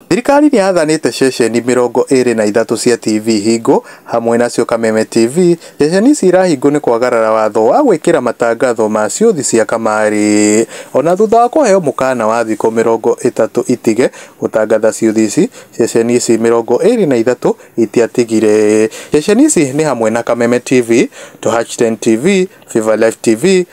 Thirikari nĩyathanĩte ceceni mĩrongo ĩĩrĩ na ithatũ cia TV hingo, hamwe nacio Kameme TV, ceceni ici irahingwo nĩ kwagarara watho wa gwĩkĩra matangatho ma ciũthi cia kamarĩ ona thutha wa kũheo mũkaana wa thikũ mĩrongo ĩtatũ itige gũtangatha ciũthi ici, ceceni ici mĩrongo ĩĩrĩ na ithatũ itiatigire. Ceceni ici nĩ hamwe na Kameme TV, Touchtn TV, Viva Life TV,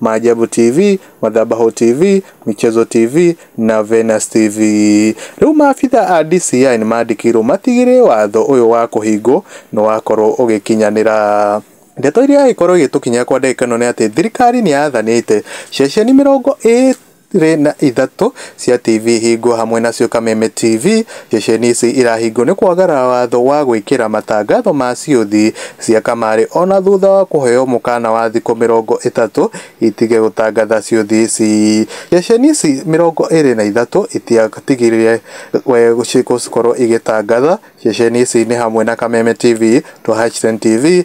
Maajabu TV, Madhabahu TV, Michezo TV na Venus TV. Rĩu maabitha a DCI nĩ mandĩkĩirwo matigĩrĩre watho ũyũ wa kũhingwo nĩ wakorwo ũgĩkinyanĩra. Ndeto iria ĩkorwo ĩgĩtũkinyĩra kwa ndagĩka ĩno nĩ atĩ thirikari nĩ yathanĩte ceceni mĩrongo ĩ igĩrĩ na ithatũ cia TV hingo hamwe nacio Kameme TV, ceceni ici irahingo nĩ kwagara watho wa gwĩkĩra matangatho ma ciũthi cia kamarĩ ona thutha wa kũheo mũkana wa thikũ mĩrongo ĩtatũ itige gũtangatha ciũthi ici. Ceceni ici mĩrongo ĩrĩ na ithatũ itiatigire gũkorwo igĩtangatha ceceni ici nĩ hamwe na Kameme TV, Twahacitizen TV,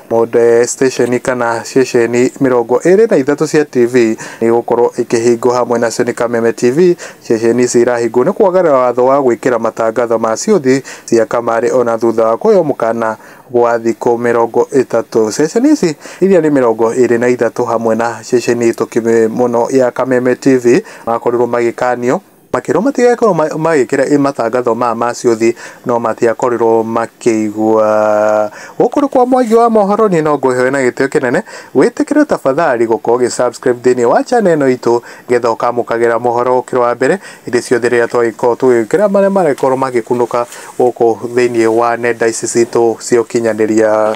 Mothe citĩceni kana ceceni mĩrongo ĩrĩ na ithatũ cia TV nĩ igũkorwo ikĩhingwo hamwe nacio nĩ Kameme TV. Ceceni ici irahingwo nĩ kwagarara watho wa gwĩkĩra matangatho ma ciũthi cia kamarĩ ona thutha wa kũheo mũkana wa thikũ mĩrongo ĩtatũ. Ceceni ici iria nĩ mĩrongo ĩrĩ na ithatũ hamwe na ceceni hetũkie mũno ya Kameme TV makorirwo magĩkanio. Makĩrwo matigakorwo magĩkĩra matangatho maya ma ciũthi no matiakorirwo makĩigua. Gũkũ nĩ kwa Mwangi wa Mohoro, niĩ no ngũhe na gĩtĩo kĩnene. Wĩtĩkĩre tafadhali gũkorwo ũgĩ subscribe thĩinĩ wa channel ĩno itũ nĩgetha ũkamũkagĩra mohoro ũkĩrĩ wa mbere hĩndĩ ciothe rĩrĩa twagĩkorwo tũgĩkĩra marĩa maragĩkorwo magĩkunũka gũkũ thĩinĩ wa nenda ici citũ cia ũkinyanĩria.